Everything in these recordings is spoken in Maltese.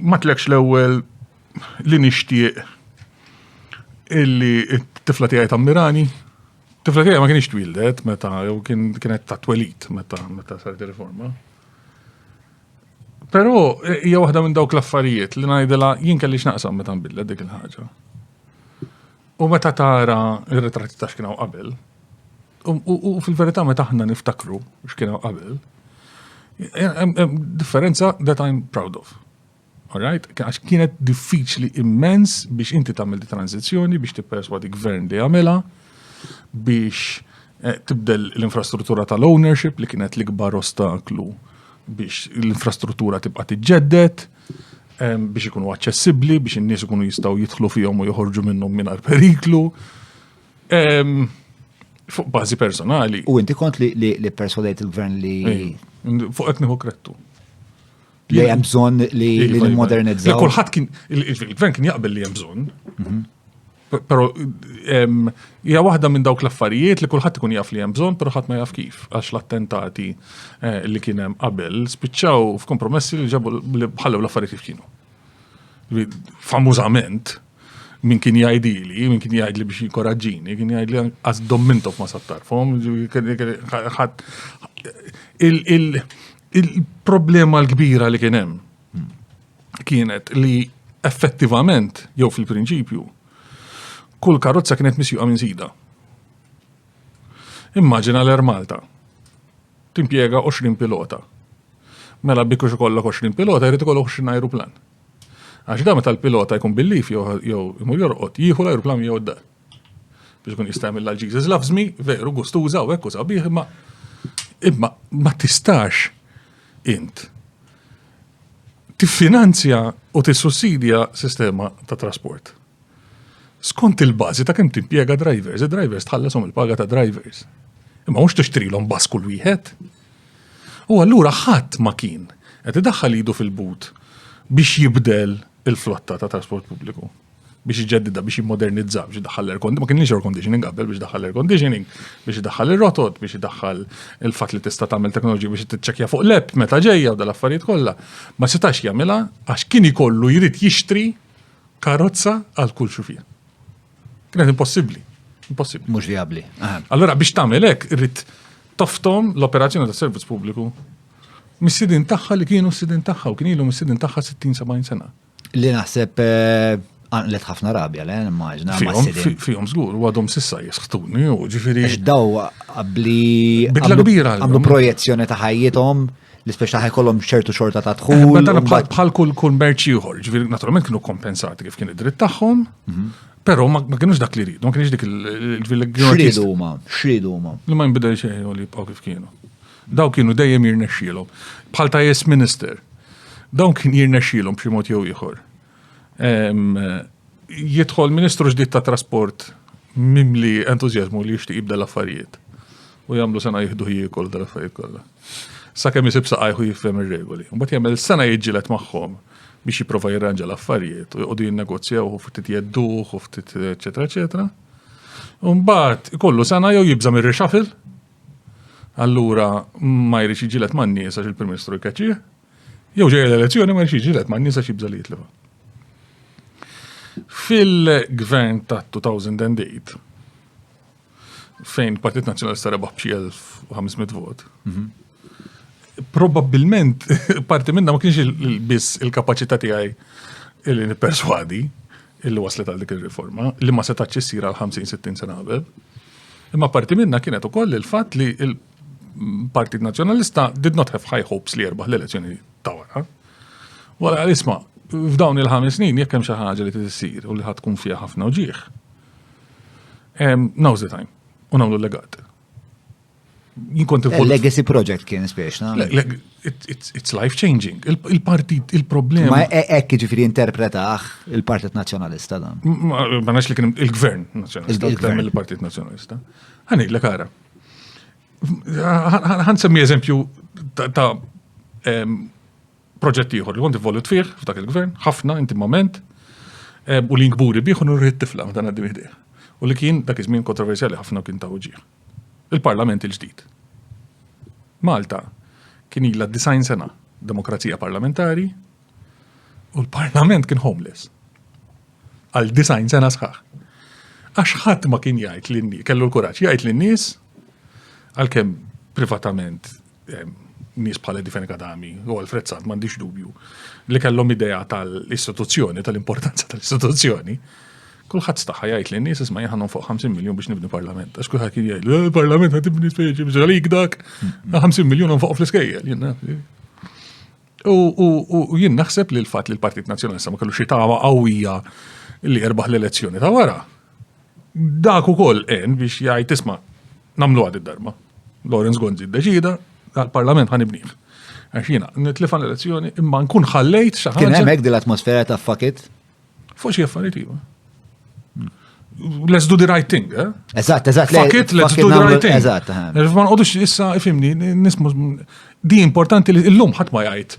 Ma tlekx l-ewwel li nixtieq illi t-tifla tiegħi tammirani. Tifla tiegħi ma kienx twildet meta jew kienet ta' twelid meta meta saret riforma. Però hija waħda minn dawk l-affarijiet li ngħidilha jien kelli x'naqsam meta nbidlet dik il-ħaġa. U meta tara r-ritratti ta' x'kienu qabel, u fil-verità meta aħna niftakru x'kienu qabel, differenza that I'm proud of. Alright? Għax kienet diffiċli immens biex inti tagħmel di tranzizzjoni biex tipperswadi gvern li jagħmilha biex eh, tibdel l-infrastruttura tal-ownership li kienet l-ikbar ostaklu biex l-infrastruttura tibqa' tiġġedded biex ikunu aċċessibbli, biex in-nies ikunu jistgħu jidħlu fihom u joħorġu minnhom mingħajr periklu. Fuq bażi personali. U inti kont li, li, li persuadejt il-gvern li. Fuq qed nieħu krettu. Li hemm bżonn li, li iva, iva. modernizzaw. Kulħadd kien il-gvern kien jaqbel li hemm bżonn. Mhm. Pero, hija waħda minn dawk l-affarijiet li kulħadd ikun jaf li hemm bżonn, pero ħadd ma jaf kif, għax l-attentati eh, li kien hemm qabel spiċċaw f'kompromessi li ġabu li bħallew l-affarijiet kif kienu. Famużament, min kien jgħidili, min kien jgħidli biex jikoraġġini, kien jgħidli għaz dommintof ma sattarfom, il-problema l-kbira li kien hemm kienet li effettivament, jew fil-prinċipju, kull karozza kienet misjuqa minn sida. Immaġina l-Air Malta. Timpiega 20 pilota. Mela biex ikollok 20 pilota, jrid ikollok 20 aeroplan. Għax da meta l-pilota jkun bil-lif jew imur jorqod, jieħu l-aeroplan jew d-dar. Biex kun jista' jagħmilha l-Jesus loves me, veru gustuża u hekk u sabiħ, imma imma ma tistax int tiffinanzja u tissussidja sistema ta' trasport. Skont il-bażi ta' kemm timpjega drivers, id-drivers tħalleshom il-paga ta' drivers. Imma mhux tixtrilhom bas kull wieħed. U allura ħadd ma kien qed idaħħal idu fil-but biex jibdel il-flotta ta' trasport pubbliku. biex iġeddida biex jimmodernizza biex idaħħal l-air conditioning, ma kienx air conditioning qabel biex daħħal air conditioning, biex idaħħal ir-rotot, biex idaħħal il-fatt li tista' tagħmel teknoloġija biex tiċċekkja fuq l-app meta ġejja u dal-affarijiet kollha. Ma setax jagħmilha għax kien ikollu jrid jixtri karozza għal kull xufija. Kienet impossibbli. Impossibbli. Mhux vijabbli. Allora biex tagħmel hekk irrid toftom l-operazzjoni tas servizz pubbliku mis-sidin tagħha li kienu s-sidin tagħha u kien ilhom is-sidin tagħha 60-70 sena. Li naħseb għanqlet ħafna rabja, le, immaġna. Fihom żgur, u għadhom sissa jisħtuni, u ġifiri. Daw għabli. Bidla kbira. Għamlu projezzjoni ta' ħajjithom li speċa taħħa kollom ċertu xorta ta' dħul. Bħal kull kull merċi uħor, ġifiri, naturalment kienu kompensati kif kien id-dritt tagħhom. Mhm. Pero ma kienux dak li rridu, ma kienx dik il-villegġu. Xridu ma, xridu ma. Li ma jimbidel xejn u li jibqaw kif kienu. Dawn kienu dejjem jirnexxielhom. Bħal ta' yes minister. Dawn kien jirnexxielhom b'xi mod jew ieħor. Jidħol ministru ġdid ta' trasport mimli entużjażmu li jixtieq jibda l-affarijiet. U jagħmlu sena jieħdu jiekol dal-affarijiet kollha. Sakemm isib saqajħu jifhem ir-regoli. Mbagħad jagħmel sena jiġġieled magħhom biex jipprova jirranġa l-affarijiet u jqogħdu jinnegozjaw u ftit jedduh u ftit eċetera eċetera. Mbagħad ikollu sena jew jibża' mir-rixafil allura ma jridx jiġilet man-nies għax il-Prim Ministru jkeċċih, jew ġejja l-elezzjoni ma jridx jiġilet man-nies għax jibża' li jitlifha. Fil-gvern ta' 2008, fejn Partit Nazzjonalista rebaħ b'xi 1500 vot, mhm. probabbilment parti minna ma kienx biss il-kapaċità tiegħi li nipperswadi illi waslet għal dik ir-riforma li ma setax issir għal 50-60 sena qabel Imma parti minna kienet ukoll il-fatt li il-Partit Nazzjonalista did not have high hopes li jerbaħ l-elezzjoni ta' wara. Wara isma' f'dawn il-ħames snin jekk hemm xi ħaġa li tissir u li ħadd tkun fiha ħafna uġieħ. Now's the time u nagħmlu legat. Jinkont involut. Legacy project kien spiex, na? It's life changing. Il-partit, il-problema. Ma e- ekk ġifiri interpretaħ il-Partit Nazjonalista dan. Ma nax li kien il-Gvern Nazjonalista. Il-Gvern il-Partit Nazjonalista. Għani, l kara. Għan semmi eżempju ta' proġett ieħor li kont involut fih f'dak il-gvern, ħafna intimament, u li nkburi bih u nurri t-tifla ma dan għaddim U li kien dak iż-żmien kontroversjali ħafna kien ta' uġieħ. il-Parlament il-ġdid. Malta kien ilha disajn sena demokrazija parlamentari u l-Parlament kien homeless. Għal disajn sena sħaħ. Għax ħadd ma kien jgħid li kellu l-kuraġġ jgħid lin-nies għalkemm privatament nies bħal Difen Kadami u Alfred Sant m'għandix dubju li kellhom idea tal-istituzzjoni, tal-importanza tal-istituzzjoni. Kulħadd staħħa jgħid li nies isma' jħanhom fuq 50 miljun biex nibni parlament. Għax kulħadd kien jgħid, eh, parlament ħad tibni speċi biex għalik dak, 50 mm. miljun fuq fl-iskejjel. U jien naħseb li l-fatt li l-Partit Nazzjonalista ma kellu xi tama qawwija li erbaħ l-elezzjoni ta' wara. Dak ukoll għen biex jgħid isma' nagħmluha did-darba. Lawrence Gonzi ddeċida dal-Parlament ħa nibnih. Għax jiena nitlifha l-elezzjoni imma nkun ħallejt xi ħaġa. Kien hemmhekk din l-atmosfera ta' fakit? Fuq xi affarijiet iva. Let's do the right thing, eh? Eżatt, eżatt. Fakit, let's do the right thing. Eżatt. Eh. Ma nqodux issa ifimni, nismu di importanti li l-lum ħadd ma jgħid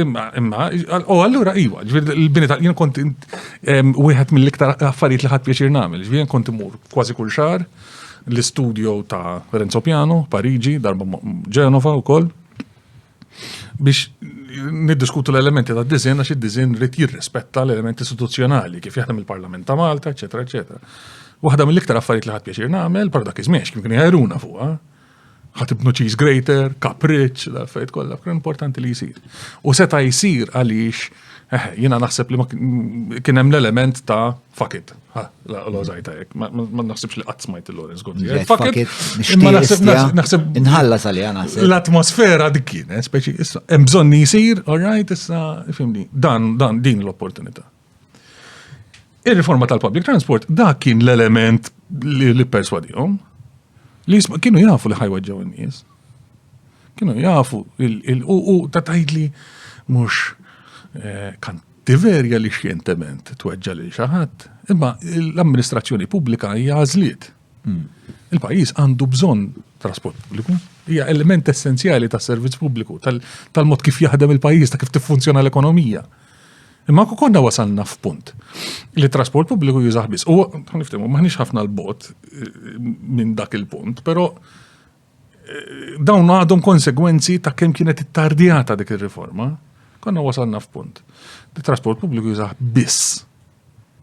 Imma, imma, u allura iwa, ġviri l-bini tal jien kont wieħed mill-iktar affarijiet li ħadd pjaċir nagħmel, ġviri jien kont imur kważi kull xahar l-istudio ta' Renzo Piano, Pariġi, darba Ġenova u koll, biex niddiskutu l-elementi ta' dizin, għax id-dizin rrit jirrispetta l-elementi istituzzjonali, kif jaħdem il-Parlament ta' Malta, eccetera, eccetera. Waħda mill-iktar affarijiet li ħadd pjaċir nagħmel, per dak iż-żmien kien jħajruna fuqha, ħatibnu cheese grater, kapriċ, l-affarijiet kollha, kien importanti li jsir. U seta' jsir għaliex eh, jiena naħseb li kien hemm l-element ta' fakit. L-ożajta jek, ma naħsibx li qatt smajt il-Lorenz Gonzi. Fakit, imma naħseb. Inħalla sali naħseb. L-atmosfera dik kien, eh, speċi, issa, hemm bżonn li jsir, all right, issa, fimni, dan, dan, din l-opportunità. Ir-riforma tal-public transport dak kien l-element li, li perswadihom li jisma' kienu jafu li ħajweġġaw in-nies. Kienu jafu u ta' tajdli mhux eh, kan tiverja li xjentement tweġġa' lil xi ħadd, imma l-amministrazzjoni pubblika hija għażliet. Il-pajjiż għandu bżonn trasport pubbliku, hija element essenzjali tas-servizz pubbliku, tal-mod kif jaħdem il-pajjiż, ta' kif tiffunzjona l-ekonomija. Imma ku konna wasalna f'punt li trasport pubbliku jużaħ biss. U niftimu, maħniex ħafna l-bot eh, minn dak il-punt, però dawn għadhom konsegwenzi ta' kemm kienet ittardjata dik ir-riforma, konna wasalna f'punt. Di trasport pubbliku jizaħ biss.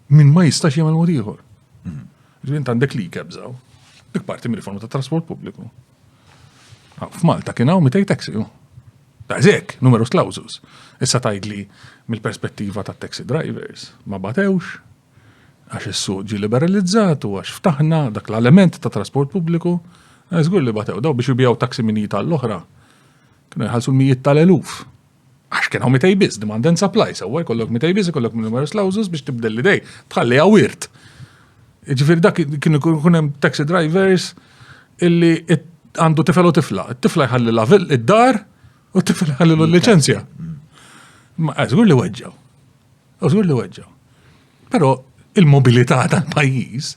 Min ma jistax jagħmel mod ieħor. Mhm. Ġvint għandek li kebżaw. Dik parti mir riforma ta' trasport pubbliku. Ah, F'Malta kien hawn mitej taxi. Dażek, numerus clausus. Issa tajdli mill-perspettiva ta' taxi drivers. Ma batewx, għax is-suq ġie liberalizzat u għax ftaħna dak l-element ta' trasport pubbliku, eh, żgur li batew daw biex jibjaw taksi minn jita l-oħra. Kienu jħallsu l-mijiet tal-eluf. Għax kien hawn mitej biss, demand and supply, sewwa jkollok mitej biss, jkollok minn numerous clauses biex tibdel l-idej, tħalli għawirt. Ġifir dak kienu kun hemm taxi drivers illi għandu tifel u tifla. Tifla jħalli la id-dar u tifla jħalli l-licenzja. Ma għazgur eh, li weġġaw. Użur li weġġa. Però il-mobilità tal-pajjiż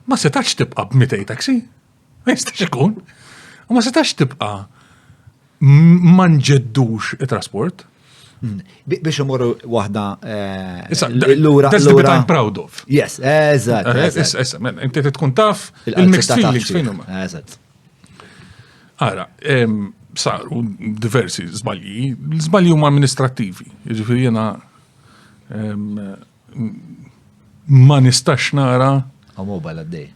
ma setax tibqa' b'mitej taxi. Ma jistax ikun. U ma setax tibqa' ma nġeddux it-trasport. Mm. Biex imorru wahda. Eh, l-ura. That's the bit I'm proud of. Yes, eżat. Eh, issa, inti tkun taf il-mixed feelings fejn huma. Eżat. Ara, saru diversi zbalji, zbalji huma amministrativi, ġifiri jena ma nistax nara. A mobile għaddej.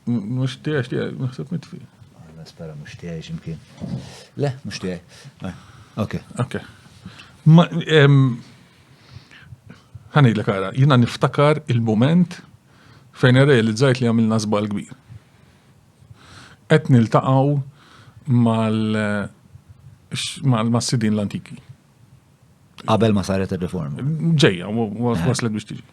Mux tiex, naħseb mitfi. Spera mux tiex imkien. Le, mux tiex. Eh, ok. Ok. Għani l kara, jina niftakar il-moment fejn realizzajt li għamilna zbal kbir. Qed niltaqgħu mal mal-sidien l-antiki. Qabel ma saret ir-riforma. Ġejja, waslet biex tiġi.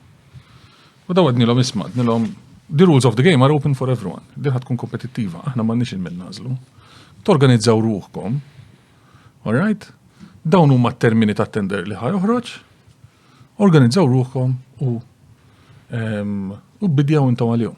U daw għednilhom isma' għednilhom the rules of the game are open for everyone. Din tkun kompetittiva, aħna m'għandniex il-min nażlu. Torganizzaw ruħkom. All right? Dawn huma t-termini ta' tender li ħaj uħroċ. Organizzaw ruħkom u ehm, u bidjaw intom għalihom.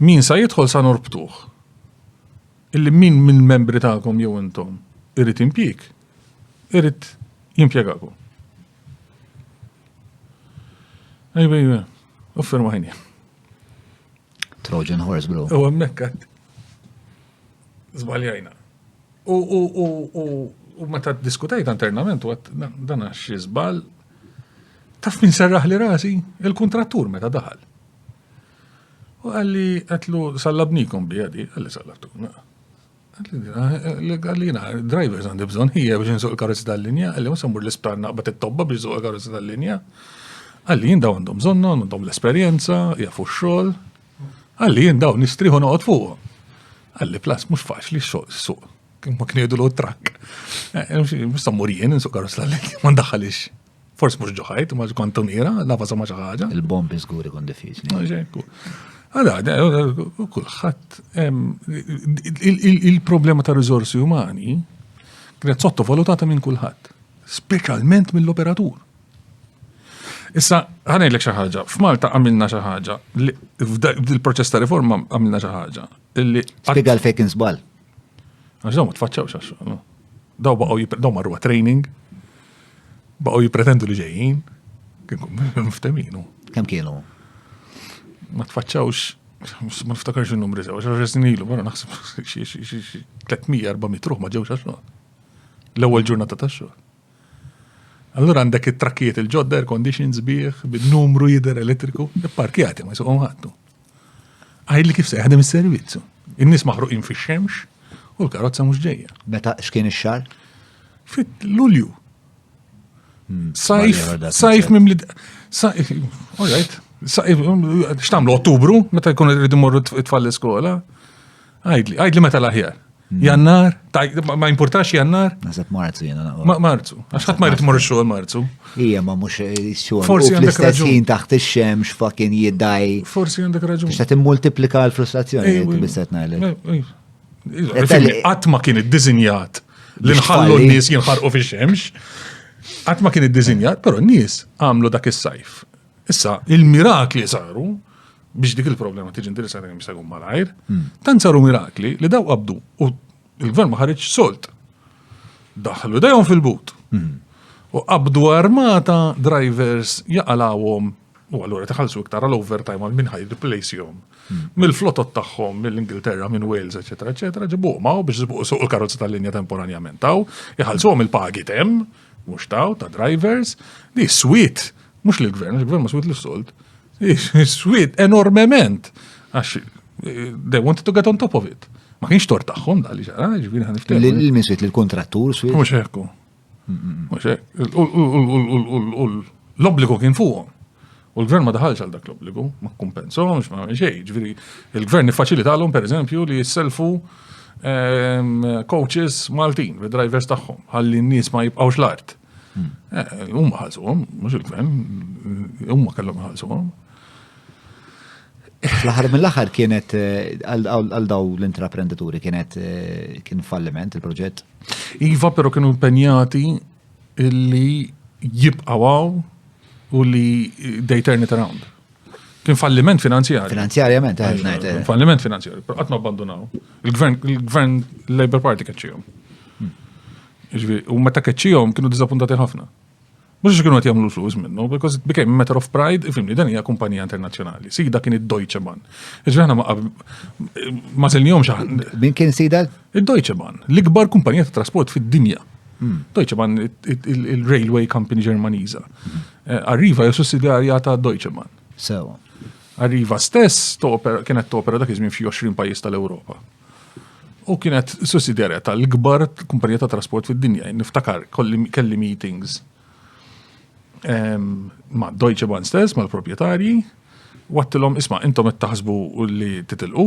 Min sa jidħol sa norbtuh. Illi min mill-membri tagħkom jew intom irid impjieg, irid jimpjegakom. Ejba, ejba, uffer maħini. Trojan horse, bro. U għemmekkat. Zbaljajna. U meta diskutajt internament, u għat dan għax jizbal, taf min serraħ li rasi il-kontrattur meta daħal. U għalli għetlu sallabnikom bi għadi, għalli sallabtuna. Għalli jina, drivers għandi bżon hija biex nsuq il-karozzi tal-linja, għalli musa mur l-ispranna għabat it-tobba biex nsuq il-karozzi tal-linja. Għalli jien daw għandhom zonna, għandhom l-esperienza, jafu xol. Għalli jien daw nistriħu noqot fuq. Għalli plas mux faċli suq. Kim ma kniedu l-trak. Eh, Mustammur jien nsuq karus l-għalli, ma ndaħalix. Forsi mhux ġo ħajt, ma kont tunira, nafa sa ma xi ħaġa. Il-bombi żgur ikun diffiċli. Għala, kulħadd il-problema ta' riżorsi umani kienet sottovalutata minn kulħadd, speċjalment mill-operatur. Issa, ħanajlek xi ħaġa, f'Malta għamilna xi ħaġa, fil-proċess ta' riforma għamilna xi ħaġa. Spiega l-fejkin żball. Għax daw ma tfaċċawx għax xogħol. Daw baqgħu daw marru training, baqgħu jippretendu li ġejjin, mfteminu. Kemm kienu? Ma tfaċċawx ma niftakarx il-numri sew, għax għax ilu, għara naħseb 300-400 ruħ ma ġewx għax L-ewwel ġurnata ta' xogħol. Allura għandek it-trakkijiet il-ġodda, air conditions bih, bil-numru jider elettriku, il-parkjati ma jisuqom ħattu. Għajli kif se jaħdem is-servizzu. In-nies maħruqin fix-xemx u l-karozza mhux ġejja. Meta x'kien ix-xar? Fit-Lulju. Hmm, sajf, sajf mimli. Sajf, all right. X'tamlu Ottubru meta jkun irid imorru tfal l-iskola? Għajdli, għajdli meta l-aħjar. Hmm. Jannar, ma importax jannar? Naħseb marzu jena. Ma marzu, għax ħadd ma jrid mor xogħol marzu. Ija, ma mhux xogħol. Forsi għandek raġun. Ħin taħt ix-xemx fakin jiddaj. Forsi għandek raġun. Biex qed immultiplika l-frustrazzjoni li qed biset ngħidlek. Qatt ma kien iddiżinjat li nħallu n-nies jinħarqu fix-xemx. Qatt ma kien iddiżinjat, però n-nies għamlu dak is-sajf Issa, il-mirakli saru biex dik il-problema tiġi indirizzata kemm jista' jkun malajr, hmm. tant saru mirakli li daw qabdu u l-gvern ma ħareġ solt. Daħlu dejhom fil-but. Hmm. U qabdu armata drivers jaqalawhom u allura tħallsu iktar għal overtime għal minn ħaj replace'hom. Hmm. Mill-flotot tagħhom mill-Ingilterra, minn Wales, eċetera, eċetera, ġibu ma biex ġibu suq il-karozza tal-linja temporanjament taw, jħallsuhom il-pagi tem, mhux taw ta' drivers, li swit Mhux li l-gvern, il-gvern ma swit l-sold. Swit enormement. Għax eh, they wanted to get on top of it. Ma kienx tor tagħhom da li ġara, ġifieri ħan niftehmu. L-min swit l-kontrattur swit. Mhux hekk. Mhux hekk. U l-obbligu kien fuqhom. U l-gvern ma daħalx għal dak l-obbligu, ma kumpensomx, ma xej, ġviri, il-gvern nifacilitalhom per eżempju li jisselfu ehm, coaches Maltin, drivers tagħhom, ħalli n-nies ma jibqgħux l-art. Eh, huma ħalsuhom, mhux il-gvern, huma kellhom ħalsuhom. Fl-aħħar mill-aħħar kienet eh, għal daw l-intraprendituri kienet eh, kien falliment il-proġett. Iva però kienu impenjati illi jibqgħu u li they turn it around. Kien falliment finanzjarju. Finanzjarjament, għed najt. Kien falliment finanzjarju, per għatma abbandunaw. Il-gvern Labour Party keċċijom. Hmm. Ġvi, u meta keċċijom kienu dizapuntati ħafna. Mux kienu għat jamlu flus minnu, because it became a matter of pride, ifimni, dan hija kumpanija internazjonali. Sida kien id-Deutsche Bahn. Ġvi, ħana ma zilnijom xaħn. Min kien sida? Id-Deutsche Bahn, l-ikbar kumpanija ta' trasport fid-dinja. Hmm. Deutsche Bahn, il-railway company Ġermaniża. Hmm. Eh, Arriva hija sussidjarja ta' Deutsche Bahn. Sewa. Arriva stess kienet topera dak iż-żmien f'xi 20 pajjiż tal-Ewropa. U kienet sussidjarja tal-ikbar kumpanija ta' trasport fid-dinja. Niftakar kelli meetings ma' Deutsche Bahn stess, mal-proprjetarji, wattilhom isma' intom qed taħsbu li titilqu,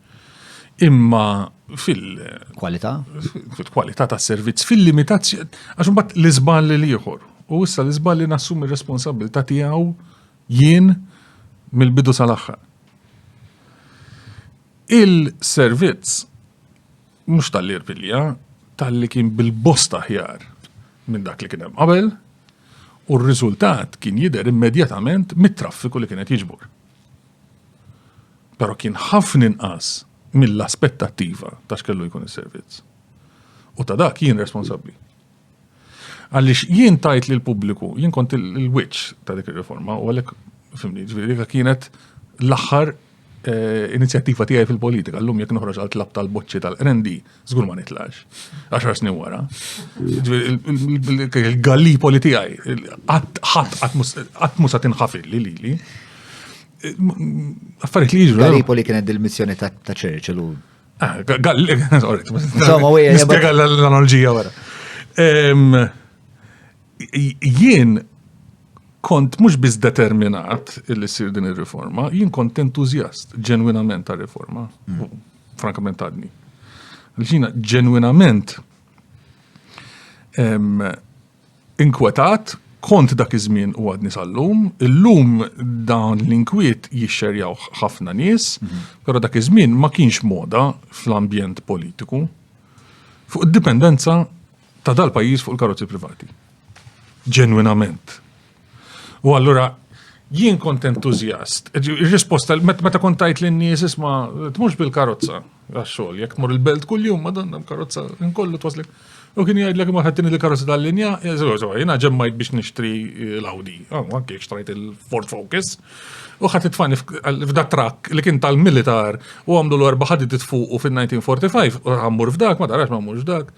imma fil- Kwalità? Fil-kwalità tas servizz, fil-limitazzjoni, għax imbagħad l-iżball li ieħor. U issa l-iżball li nassumi r-responsabilità tiegħu jien mill-bidu sal-aħħar. Il-servizz mhux tal-irpilja, tal-li kien bil-bosta ħjar minn dak li kien hemm qabel, u r-riżultat kien jidher immedjatament mit-traffiku li kienet jiġbor. Però kien ħafna inqas mill-aspettattiva ta' x'kellu jkun is-servizz. U ta' dak jien responsabbli. Għaliex jien tajt li l-pubbliku, jien kont il-wiċċ ta' dik ir-riforma u għalhekk fimni, ġifieri kienet l-aħħar eh, inizjattiva tiegħi fil-politika. Llum jekk noħroġ għal tlab tal-boċċi tal-qrendi, Zgur ma nitlax. Għaxar snin wara. Il-gallipoli tijaj, għatmu sa tinħafil li li li. Affariet li jġru. Gallipoli kienet dil-missjoni ta' Churchill u. Ah, Insomma, u Spiega l-analogija wara. Jien kont mux biz determinat il-sir din il-riforma, jien kont entuzjast ġenwinament ta' riforma. Mm. frankament għadni. L-ġina ġenwinament inkwetat kont dak iż-żmien u għadni sal-lum, illum dawn l-inkwiet jixxerjaw ħafna nies, mhm. però dak iż-żmien ma kienx moda fl-ambjent politiku. Fuq id-dipendenza ta' dal-pajjiż fuq il-karozzi privati. Ġenwinament. U allura jien kont entuzjast. Ir-risposta meta kont tajt lin-nies isma' tmux bil-karozza għax-xogħol, jekk tmur il-belt kuljum madonna karozza inkollu twaslek. U kien jgħidlek imma ħaddini il-karozza tal-linja, jiena ġemmajt biex nixtri l-Audi, anke xtrajt il-Ford Focus, u ħadd itfani f'da trakk li kien tal-militar u għamlu l-erba' ħadid fuqu fin-1945 u ħammur f'dak, ma darax ma mmurx dak.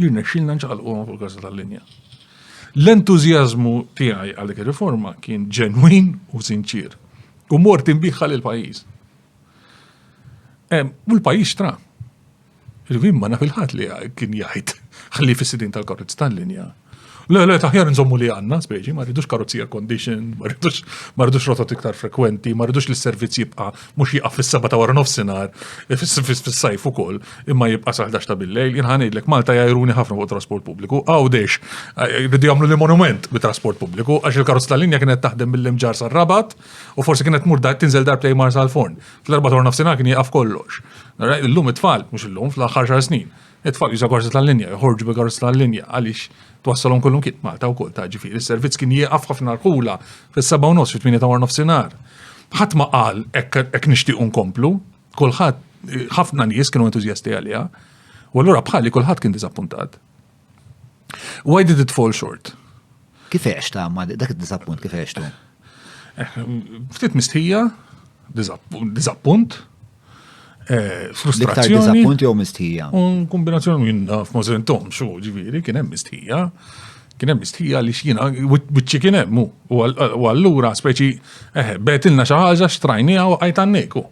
Jirnexxilna nċaqalquhom fuq każa tal-linja. L-entużjażmu tiegħi għal dik ir-riforma kien ġenwin u sinċier. U mort inbiħħa lil pajjiż. U l-pajjiż tra. Irvin ma naf il-ħadd li kien jgħid ħalli fis-sidin tal-karozz tal-linja Le, le, taħjar nżommu li għanna, speċi, ma rridux karozzi air condition, ma rridux, ma rridux rotot iktar frekwenti, ma rridux li s-servizz jibqa mux jibqa fis-seba ta' wara nofsinar, eh, fis-sajf u koll, imma jibqa saħdax ta' billejl, jinħanidlek Malta jajruni ħafna fuq trasport publiku, għawdex, eh, rridu jamlu li monument bi trasport publiku, għax il-karozz tal-linja kienet taħdem mill-imġar sal-rabat, u forsi kienet mur tinżel dar play mar sal-forn. Fl-erba ta' nofsinar kien jieqaf kollox. Illum it-tfal, mux illum, fl-axar xar snin It-tfal jużaw karozza tal-linja, joħorġu bi karozza tal-linja għaliex twassalhom kollhom kien Malta wkoll ta' ġifieri. Is-servizz kien jieqaf ħafna rħula fis-seba' u nofs fit-tmieni ta' war nofsinhar. Ħadd ma qal hekk nixtiequ nkomplu, kulħadd ħafna nies kienu entużjasti għaliha. U allura bħali kulħadd kien diżappuntat. Why did it fall short? Kif għex ta' ma dak id-disappunt kif għex tu? Eh, ftit mistħija, disappunt, eh, frustrazzjoni. Disappunt jew mistħija. Un kombinazzjoni minn naf ma sentom xo ġifieri kien hemm mistħija. Kien hemm mistħija li x'jiena wiċċi kien hemm u allura speċi eh, betilna xi ħaġa xtrajniha u qajt għanneku.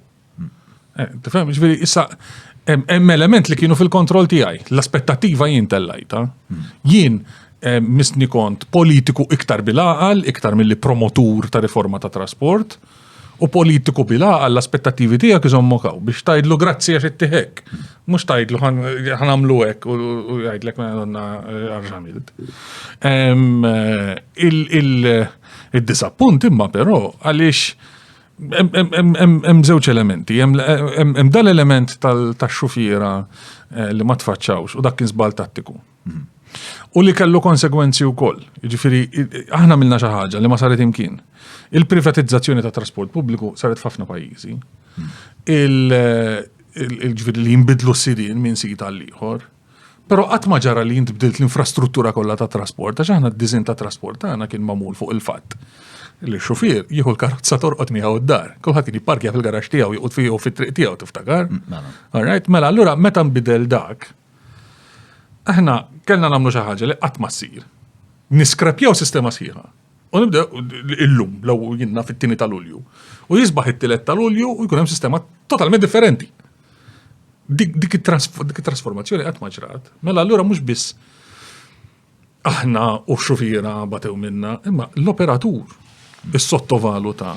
Eh, tifhem, ġifieri issa hemm element li kienu fil-kontroll tiegħi. L-aspettattiva jien tellajta. Hmm. Jien eh, misni kont politiku iktar bil-aqal, iktar mill-li promotur ta' riforma ta' trasport, u politiku bil-aqal l-aspettativi tija kizom mokaw biex tajdlu grazzi għax it-tihek. Mux tajdlu ħanamlu għek u jgħidlek ma għadonna għarġamilt. Eh, il-disappunt imma pero għalix Hemm żewġ elementi, hemm dal-element tax-xufiera eh, li ma tfaċċawx u dak kien żball tattiku. Mhm. U li kellu konsegwenzi wkoll. Jiġifieri aħna milna xi ħaġa li ma saret imkien. Il-privatizzazzjoni ta' trasport pubbliku saret f'ħafna pajjiżi. Mhm. Il-ġifieri li jinbidlu s-sidien minn sit għal ieħor. Però qatt ma ġara li int bdilt l-infrastruttura kollha ta' trasport, għax aħna d-diżin ta' trasport tagħna kien magħmul fuq il-fatt li xufier jieħu l-karozza torqod miegħu d-dar. Kulħadd kien jipparkja fil-garax tiegħu joqgħod fiegħu fit-triq tiegħu tiftakar. Mm, mela. All right, mela allura meta nbidel dak, aħna kellna nagħmlu xi ħaġa li qatt ma ssir. Niskrepjaw sistema sħiħa. U nibda illum, law jinna fit-tini tal-ulju. U jisbaħ it-tilet tal-ulju u jkun hemm sistema totalment differenti. Dik dik it-trasformazzjoni qatt ma ġrat. Mela allura mhux biss aħna u xufiera batew minna, imma l-operatur is-sottovaluta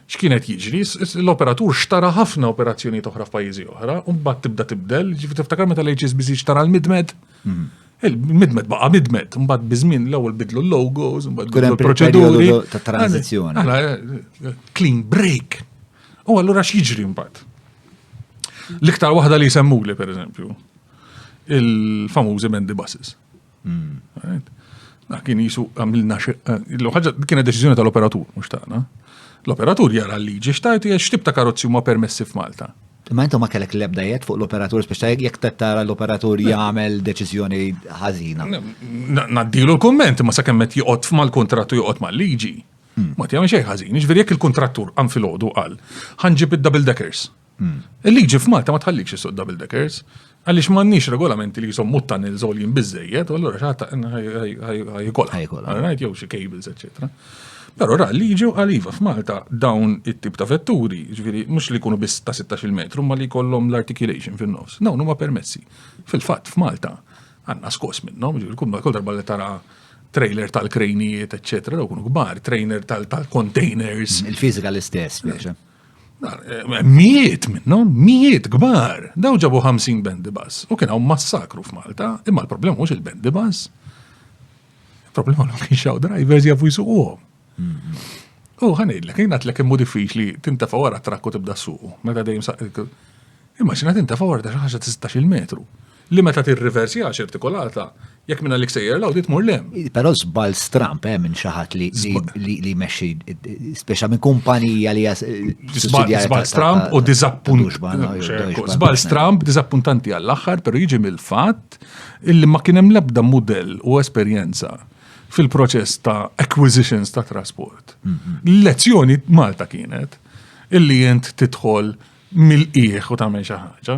x'kienet jiġri, l-operatur xtara ħafna operazzjoni oħra f'pajjiżi oħra, u mbagħad tibda tibdel, ġifi tiftakar meta l-HSBC xtara l-midmed. Hmm. Il-midmed baqa' midmed, mbagħad biżmin l-ewwel bidlu l-logos, mbagħad bidlu l-proċeduri. Ta' tranzizzjoni. Clean break. U allura x'jiġri mbagħad? L-iktar waħda li jsemmuli, per eżempju, il-famużi Mendy Buses. Hmm. Ah, kien jisu għamilna eh, l-ħagġa kienet deċiżjoni tal-operatur, mux tagħna. L-operatur jara l-liġi xtajt jiex xtib ta' karozzi huma permessi f'Malta. Ma intom ma kellek l-ebda jett fuq l-operatur, biex ta' jek tara l-operatur jagħmel deċiżjoni ħażina. Naddilu l-komment, ma sa' kemmet joqgħod mal-kontrattu joqgħod mal-liġi. Hmm. Ma tjagħmel xejn ħażin, jiġifieri jekk il-kuntrattur qam filgħodu qal ħanġib id-double deckers. Hmm. Il-liġi f'Malta ma tħallikx isuq double deckers, għaliex m'għandniex regolamenti li jisom muttan il-żolin biżejjed, u allura xaħta ħajkola. Ħajkola. Right, jew xi cables, eċċetera. Però ra liġi u għaliva f'Malta dawn it-tip ta' vetturi, ġifieri mhux li jkunu biss ta' 16 metru, ma li jkollhom l-articulation fin-nofs. Dawn huma permessi. Fil-fatt f'Malta Għandna skos minnhom, kull darba li tara trailer tal-krejnijiet, eccetera, daw kunu kbar, trainer tal-containers. Mm, il-fizika l-istess, biex. Eh, mijiet minnhom, mijiet kbar, daw ġabu 50 bendi bas. U kien hawn massakru f'Malta, imma l-problema mhux il-bendi bas. Il-problema l kienx hawn drivers jafu jsuquhom. U ħanidlek, jina tlek immu diffiċli tintafa wara trakku tibda suqu. Meta dejjem saqqa. Immaġina tintafa wara ta' xaħġa ta' 16 metru. Li meta tirriversi għax irtikolata, jekk minna lik sejjer law tmur lem. Però żball stramp eh, minn xi ħadd li meċi, speċa minn kumpanija li Żball stramp u diżappunt. Żball stramp diżappuntanti għall-aħħar, però jiġi mill-fatt illi ma kien hemm l-ebda mudell u esperjenza fil-proċess ta' acquisitions ta' trasport. L-lezzjoni Malta kienet illi jent titħol mill-qieħ u tagħmel xi ħaġa.